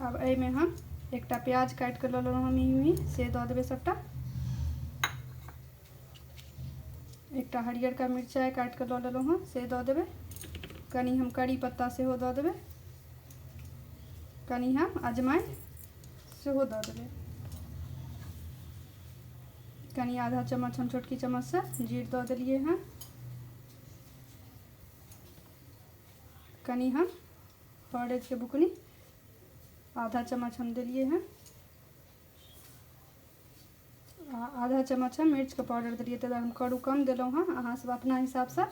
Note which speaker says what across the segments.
Speaker 1: आब एहिमे हम एकटा प्याज काटि कऽ लऽ लेलहुँ हम ई से दऽ देबै सभटा एकटा हरियरका मिरचाइ काटि कऽ लऽ लेलहुँ हँ से दऽ देबै कनि हम करी पत्ता सेहो दऽ देबै कनि हम अजमाइन सेहो दऽ देबै कनि आधा चम्मच हम छोटकी चम्मचसँ जीर दऽ देलियै हँ कनि हम हरद के बुकनी आधा चम्मच हम दिलिए हैं आ आधा चम्मच हम मिर्च के पाउडर दिलिए तब हम करू कम दिलों हाँ अहाँ सब अपना हिसाब से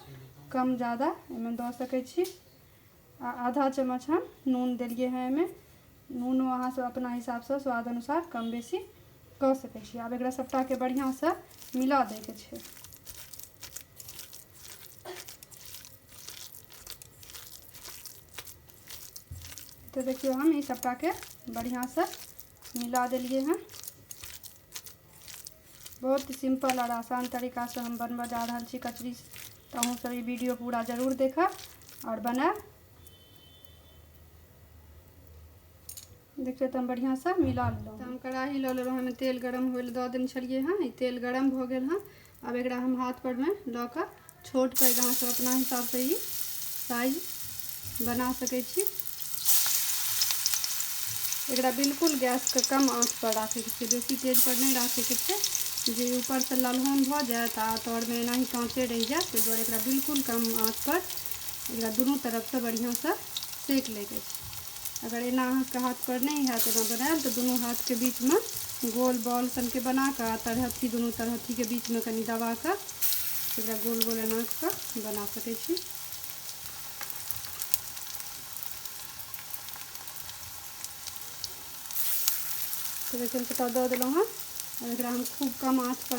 Speaker 1: कम ज़्यादा इनमें दऽ सके छी आ आधा चम्मच हम नून दिलिए हैं इनमें नूनो अहाँ सब अपना हिसाब से स्वाद अनुसार कम बेसी कऽ सके छी आब एकरा सबटा के बढ़िया से मिला दे के छै तो देखियो हम इस सबटा के बढ़िया से मिला दिलिए हैं बहुत ही सिंपल और आसान तरीका से हम बनवा जा रहा छी कचरी तो अहूँ सब वीडियो पूरा जरूर देखा और बना देखिए तो हम बढ़िया से मिला लेलहुँ तो हम कढ़ाही लऽ लेलहुँ हमें तेल गरम हो दऽ देने छलिए हँ तेल गरम भऽ गेल हँ अब एक हम हाथ पर में ल के छोट पैघ अहाँ सब अपना हिसाब से ही साइज बना सके छी एक बिल्कुल गैस के कम आँच पर राखे के बेसी तेज पर नहीं राखे के जे ऊपर से ललहोन भ जाए तो आ तर में एना ही काँचे रह जाए ताहि दुआरे एक बिल्कुल कम आँच पर एक दुनू तरफ से बढ़िया से सेक लेके अगर एना अहाँके हाथपर नहि हैत एना बनायल तऽ दुनू हाथके बीचमे गोल बॉल सनके बना कऽ आ तरहथी दुनू तरहथीके बीचमे कनि दबा कऽ एकरा गोल गोल एना कऽ बना सकै छी तऽ देखियौ कटा दऽ देलहुँ हँ एकरा हम खूब कम आँचपर